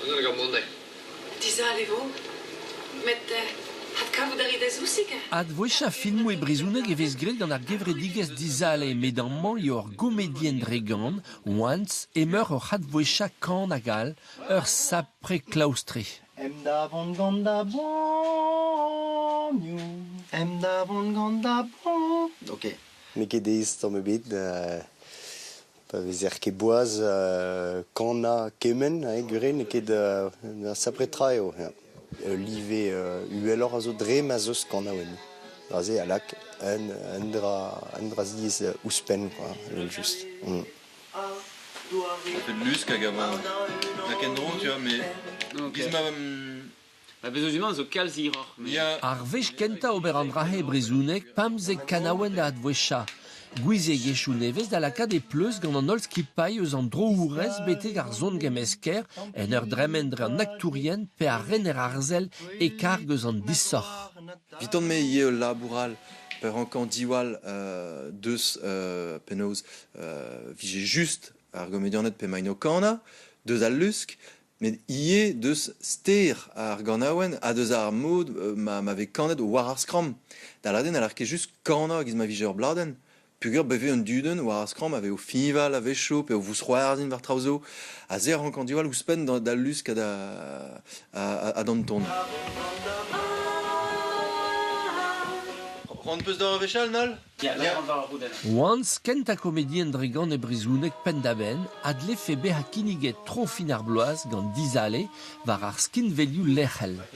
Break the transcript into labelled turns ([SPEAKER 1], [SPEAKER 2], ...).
[SPEAKER 1] Dizale eo mont eo. Dizale e vo. Met adkavout a rit da zousig ha... Advouezhañ filmoù e brezhoneg e vez graet gant ar gevredigezh Dizale met amañ eo ar gomedienn Dregan, Once, emeur oc'h advouezhañ kan hag all, ur sapre klaoustre. Em da vont gant da banioù. Em da vont gant da banioù. Ok. N'eo ket aes tamm ebet. pa vezer ket boaz kanañ kement, gure n'eo ket un sapre tra eo. Ul live uheloc'h a zo dre ma 'z eus kanaouenn. Aze a lak un dra ziez ouzhpenn, quoi, evel-just. Mm. Un lusk hag a va... Da ken dro, tu vois, mais... Bis ma... Ba Vezozimant zo kalz hiroc'h. met- Ya, Ar wech kentañ ober an dra-se e brezhoneg, pemzek kanaouenn da adveshañ. Gouiziegezhioù nevez da lakaat e pleustr gant an holl skipailh eus an droourez betek ar son-gemmesker en ur dremen dre an aktourien pe ar rener arzel e karg eus an disoc'h. Eviton-me ivez ul labour all pa rankan diwall euh, deus euh, penaos euh, vije just ar gomedianed pe maino kana, deus al lusk, Met ivez deus ster ar ganaouenn ha deus ar mod ma, ma vez kanet war ar skramm. Da lâret eo n'haller ket just kanañ e-giz ma vije ur bladenn, peogwir bet eo un dudenn war ar skramm a vez o fiñval a-wechoù pe o vousc'hoarzhin war traoù zo, ha se a rank andiwall ouzhpenn d'al lusk ha d'an ton. C'hoant 'peus da ur wech all, Nol? Lec'h war ar roudenn. Once, kentañ komedienn dre-gant e brezhoneg penn-da-benn, a dlefe bezañ kinniget tro fin ar bloaz gant Dizale war ar skinvelioù lec'hel.